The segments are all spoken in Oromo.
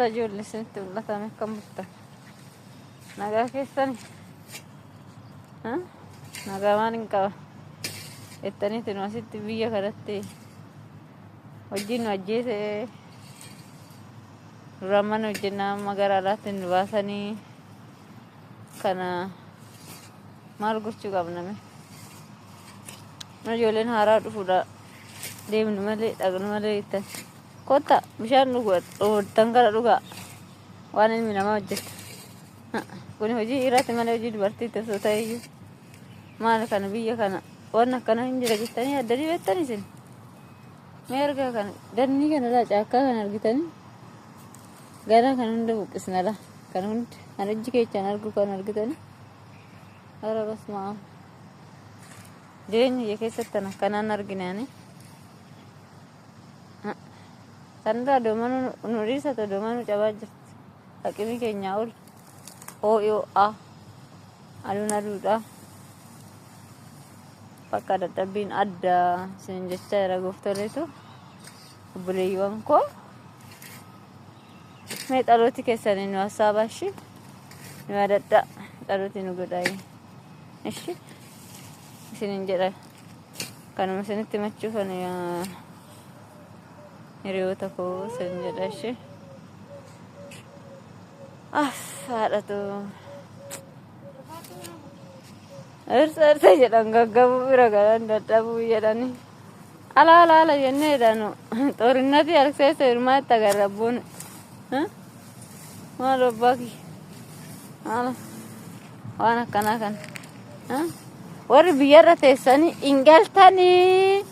Ijoollee isinitti mul'atan akkam bultan? Nagaa keessan nagaa waan hin qaban jettaniitu nu asitti biyya kanatti hojiin nu ajjeese duraan mana hojjennaa amma gara alaatti nu baasanii kana maal gochuu qabname? Ijoolleen haaraa dhufuudha. Deemnu malee dhaqnu malee jettan. Kotta bishaan dhugdan gara dhugaa. Waan ilmi namaa hojjeta. Kun hojii dhiiraati malee hojii dubartiitti osoo ta'eyyuu. Maal kana biyya kana waan akkana hin jira jettanii addanii beektan isin. Mee argaa kana dannii kana laa caakkaa kana argitanii gara kan hunda buqqisna laa kan hundi kan ijji keechaan argu kan argitanii. Ara basmaa. Jireenya kiyya keessatti tan akkanaan argine ani. Sanirraa doomanuu nu dhiisa ta'u doomanuu cabaa jirti. Haqimii keenyaa ol. OOA. Aduun aduudha. Bakka dadhabbiin adda isin jechaa jira gooftooleetu. Obboleeyyiiwwan koo. Mee dhalooti keessanii nu hassaabaa ishii. Nu yaadadhaa. Dhalooti nu godhaa. Ishi isinin jedha kanuma isinitti machuu kan hiriyoota koo isin jedha ishi. Af haadhatu. Ersa ersa jedhan gaggabuu bira galan dadhabuu jedhanii. Ala ala ala jennee dhaanu xoorinnatii harkseessa hirmaa itti agarra abboon. Maal abbaa kiyya. Maal waan akkanaa kan. Warri biyyarra teessanii hin galtanii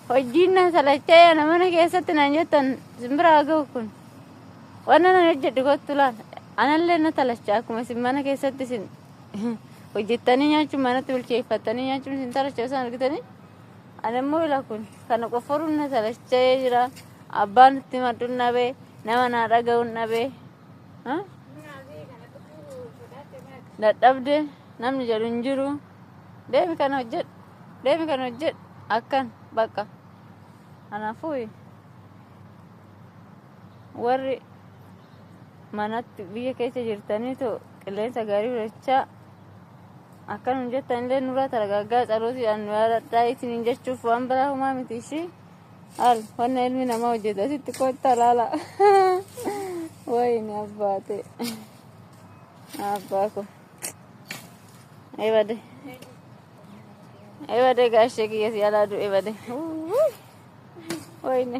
hojiin na salachee ana mana keessatti naan jettan simbira haa ga'u kun. Waan nan hojjedhu kottu laal. Anallee na talacha akkuma isin mana keessatti isin hojjettanii nyaachuun manatti bilcheeffattanii nyaachuun isin talacha isaan argitanii. Animmoo ila kun kana qofforuun na salacha'ee jira. Abbaan itti himadhun dhabe, nama naa dhaga'un dhabe. Ha? Dadhabde namni jedhu hin jiru. Deemi kana hojjedhu, deemi kana hojjedhu. Akkan bakka. Kanaafuu warri manatti biyya keessa jirtaniitu Qilleensa gaarii hojjechaa akka nun jettan illee nurraa taragaaggaa tsalootiidhaan nu yaadadhaa isiniin jechuuf waan biraa humaa miti ishii al wanna ilmi namaa hojjetu asitti kottaa laala wayini abbaate abbaa ko ebade ebade gaashee kiyya si alaa du'e bade wayini.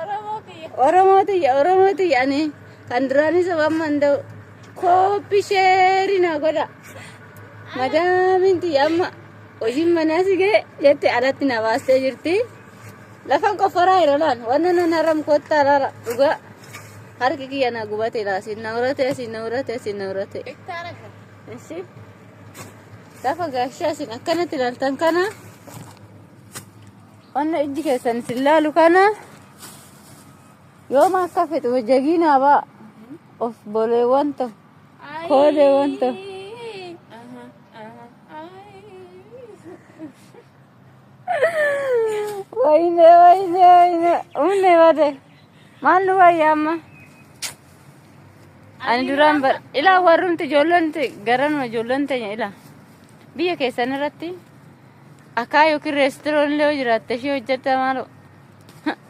Oromoo kiyya. Oromoo tiyya Oromoo tiyya ani kan duraanii sabaan manda'u kooppi sheerii naa godha. Madaamin tiyya amma hojiin manaa si ga'e jette alatti na baastee jirti. Lafan qofforaa yeroo laan wanna nan haram kottaa laala dhugaa harki kiyya na gubate laa siin na uratee siin na uratee siin na uratee. Hektaara kan. Ishi lafa gaashaa siin akkanatti ilaaltan kana Wanna ijji keessan isin laalu kana yooma akka fixu jagiinaa baa of boleewwan to kooleewwan to. Wayne wayne wayne umne bade maal nu wayya amma ani duraan bar ilaa warrumti ijoollonti garanuma ijoollon teenya ilaa biyya keessan irratti Akaa yookiin reestiroon illee yoo jiraatte ishee hojjetta maaloo.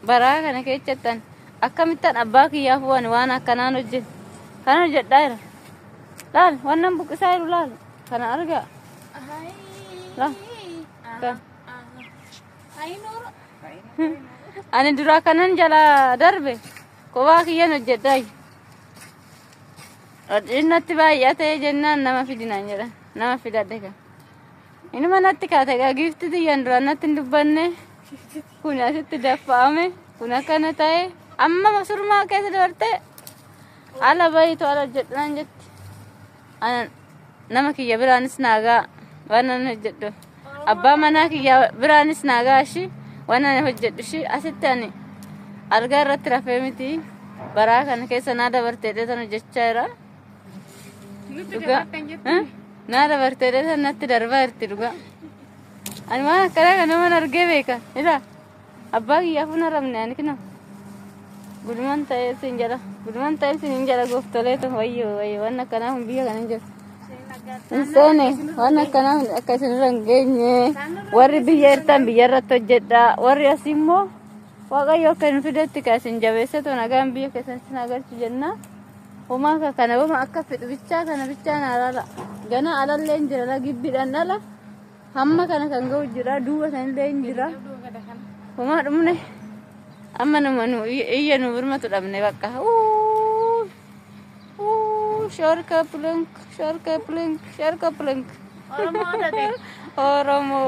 Baraa kana keessattan akkamittan abbaa kiyyaaf waan waan akkanaan hojjetu. Kana hojjedhaa jira. Laal wannan buqqisaa jiru laal. Kana argaa. Laal. Kan. Ani duraa kanan jalaa darbe kophaa kiyyan hojjedhaa jiru. Dhiinnatti baay'atee jennaan nama fidinaan jedhan. Nama fidadhe kan. Inuma natti kaate egaa giifti tiyyan duraan natti hin dubbanne kun asitti daffa'ame kun akkana ta'e amma surmaa keessa dabarte ala bayitu ala hojjedhu naan jetti. Ana nama kiyya biraanis naagaa waan ani hojjedhu abbaa manaa kiyya biraanis naagaa ishii waan ani hojjedhu ishii asitti ani algaa irratti rafee miti baraa kana keessa naa dabartee dheetan hojjechaa jira. Dhugaa. Eh? Naa dabartee dheesa natti darbaa jirti dhugaa. Ani waan akkanaa kana naman argee beeka. Ila abbaa kiyyaa fuuna rabne ani kino. Guduman ta'ee siin jala. Guduman ta'ee siin hin jala gooftolee ta'u wayyoo wayyoo waan akkanaa kun biyya kana hin jiru. Hin seene waan akkanaa kun akka isinirra hin geenye. Warri biyya irtaan biyya irratti hojjedha. Warri asii immoo waaqayyo akka hin fidetti kan isin jabeessetu nagaan biyya keessatti isin agarsiisu jenna. Homaa ka kana wama akka fedhu bichaa kana bichaa na alaala. Gana alallee hin jira la gibbiidhaan ala. Hamma kana kan ga'u jira duuba sanillee hin jira. Homaa dhumne amma nama nu iyya nu birmatu dhabne bakka. Uuu uuu shoorka plunk shoorka plunk shoorka plunk. Oromoo tate. Oromoo.